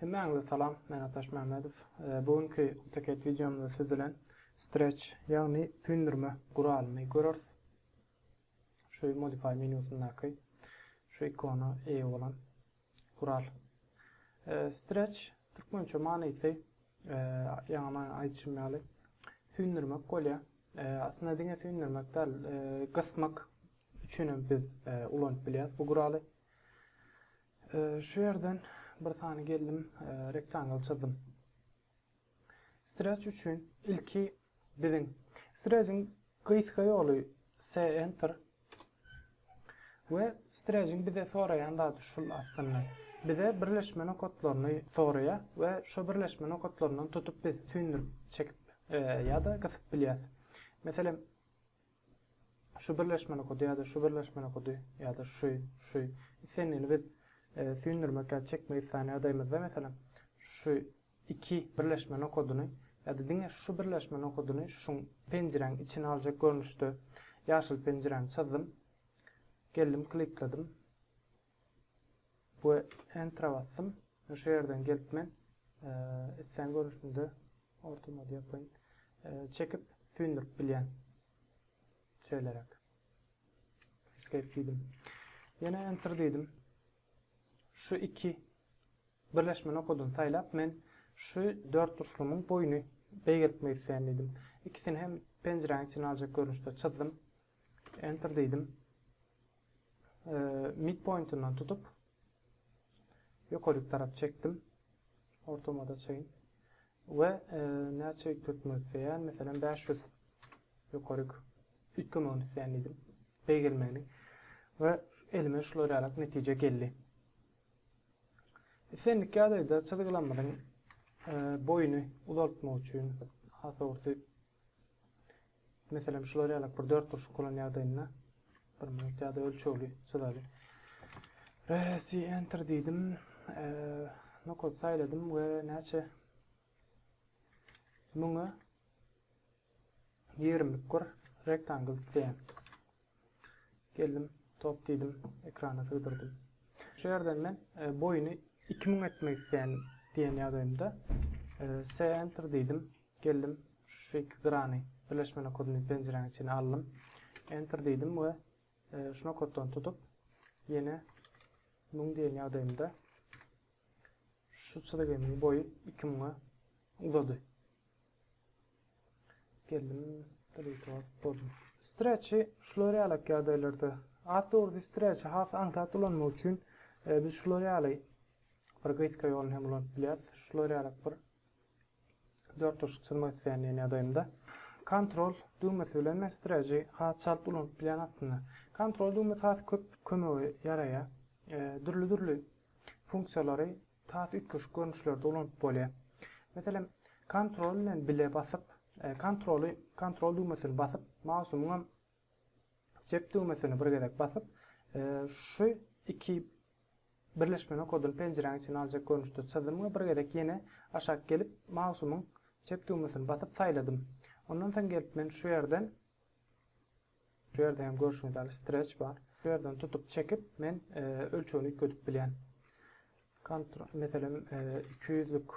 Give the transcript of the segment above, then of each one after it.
Hemmäňize salam, men Ataş Mämmedow. Bu günki AutoCAD wideomyzda siz bilen stretch, ýagny süýndürme guralyny göreris. Şu modify menýusyndaky şu ikona eýe bolan Gural. Streç, türkmençe manysy, ýaňy aýdyşym ýaly, süýndürmek bolýar. Aslynda diňe süýndürmek däl, gysmak üçin hem biz ulanyp bilýäris bu guraly. Şu ýerden bir sany geldim, rektangle çyzdym. Stretch üçin ilki biziň stretchiň gysga ýoly se enter we stretchiň bize soraýan zady şul aslynda. Bize birleşme nokatlaryny soraýar we şo birleşme nokatlaryndan tutup biz süýndürip çekip ýa-da gysyp bilýäs. Meselem Şu birleşmeli kody ýa-da şu birleşmeli kody ýa-da şu, şu islendigini biz süýndürmek ýa-da çekmek isleýän ýagdaýymyzda, meselem, şu iki birleşmeli koduny ýa-da diňe şu birleşmeli koduny şuň penjiräň içine aljak görnüşde ýaşyl penjiräni çyzdym. Geldim, klikledim. We Enter-a basdym. Men şu ýerden gelip men islän görnüşinde orta modýa koýun çekip süýndürip bilýän. Şeýleräk. Escape diýdim. Ýene Enter diýdim. Şu iki birleşme nokadyny saýlap men şu dört burçlumyň boýuny beýgeltmek isleýän diýdim. İkisini hem penjiräň içine aljak görnüşde çyzdym. Enter diýdim. Midpointyndan tutup ýokaryk tarap çekdim. Ortamada çeýin. We e, näçe ýükletmek isleýän, meselem 500 ýokaryk üýtgemegini isleýän diýdim. Beýgelmegini. We elime şular ýaly netije geldi. Islendik ýagdaýda çyzgylamyzyň e, boýuny uzaltmak üçin hasawurty Meselem, şular ýalak bir dört burçluk bolan ýagdaýynda bir minut ýa-da ölçegli çyzaly. Resi enter diýdim. E, nokot saýladym we näçe müňe 20 bir rektangl diýen. Geldim, top diýdim, ekrana sygdyrdym. Şu ýerden men boýuny iki müň etmek isleýän diýen ýagdaýymda se enter diýdim, geldim, şu iki grany birleşme nokadyny penjiräň içine aldym, enter diýdim we şu nokatdan tutup ýene müň diýen ýagdaýymda şu çyzgynyň boýy iki müňe uzady. Geldim Deleteout boldum. Streçi şular ýalak ýagdaýlarda. At dogrusy streçi has aňsat ulanmak üçin biz şular ýaly bir gysga ýoluny hem ulanyp bilýäs. Şular ýalak bir dört turşuk çyzmak isleýän diýen ýagdaýymda. Kontrol düwmesi bilen men streçi has çalt ulanyp bilýän aslynda. Kontrol düwmesi has köp kömege ýaraýar. Dürli-dürli funksiýalary Tat üýtgeşik görnüşlerde ulanyp bolýar. Meselem, Ctrl bilen bile basyp, Ctrl-y, Ctrl düwmesini basyp, mausumyňam jep düwmesini bir gezek basyp, şu iki birleşme nokadyny penjiräň içine aljak görnüşde çyzdym we bir gezek ýene aşak gelip, mausumyň jep düwmesini basyp saýladym. Ondan soň gelip men şu ýerden Şu ýerde hem görşüňiz ýaly stretch bar. Şu ýerden tutup çekip men ölçegini üýtgedip bilýän. Kontrol meselem 200-lük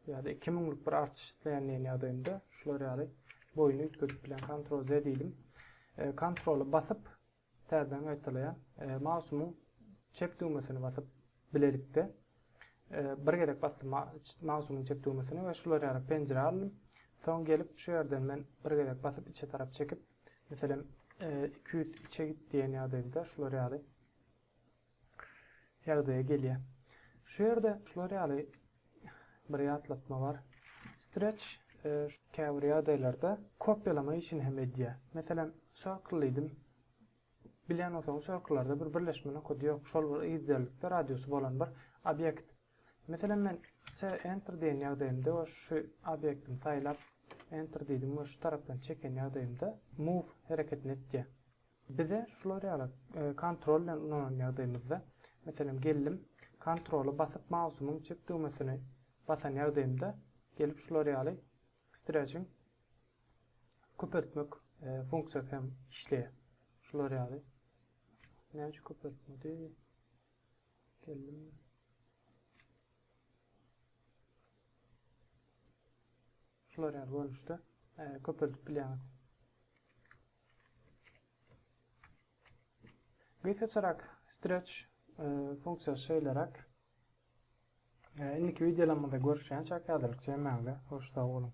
ýa-da 2000-lük bir artyş isleýän diýen ýagdaýynda şular ýaly boýuny üýtgedip bilýän. Kontrol Z diýdim. Kontroly basyp täzeden gaýtalaýan. Mausumyň çep düwmesini basyp Bilelikde bir gezek basdym mausumyň çep düwmesine we şular ýaly penjire aldym. Soň gelip şu ýerden men bir gezek basyp içe tarap çekip, meselem 200 içe git diýen ýagdaýda şular ýaly ýagdaýa gelýär. Şu ýerde şular ýaly bir ýatlatma bar. Stretch käbir ýagdaýlarda kopýalama işini hem edýär. Meselem, circle diýdim. Bilýän bolsaňyz şu ykyllarda bir birleşme nokady ýok şol bir yzderlikde radiusy bolan bir obýekt. Meselem men se enter diýen ýagdaýymda we şu obýektimi saýlap enter diýdim we şu tarapdan çeken ýagdaýymda move hereketini etýä. Bize şular ýaly kontrol bilen ulanan ýagdaýymyzda meselem geldim kontroly basyp mausymyň çep düwmesini basan ýagdaýymda gelip şular ýaly stretching köpeltmek funksiýasy hem işleýär. Şular ýaly. Näçe köpeltmedi? Geldim. Şular ýaly görnüşde e, köpeldip bilýäňiz. Gysgaçarak stretch e, funksiýasy şeýleräk. E, indiki videolarymyzda görüşýänçäk häzirlikçe hemmäňize hoş sag boluň.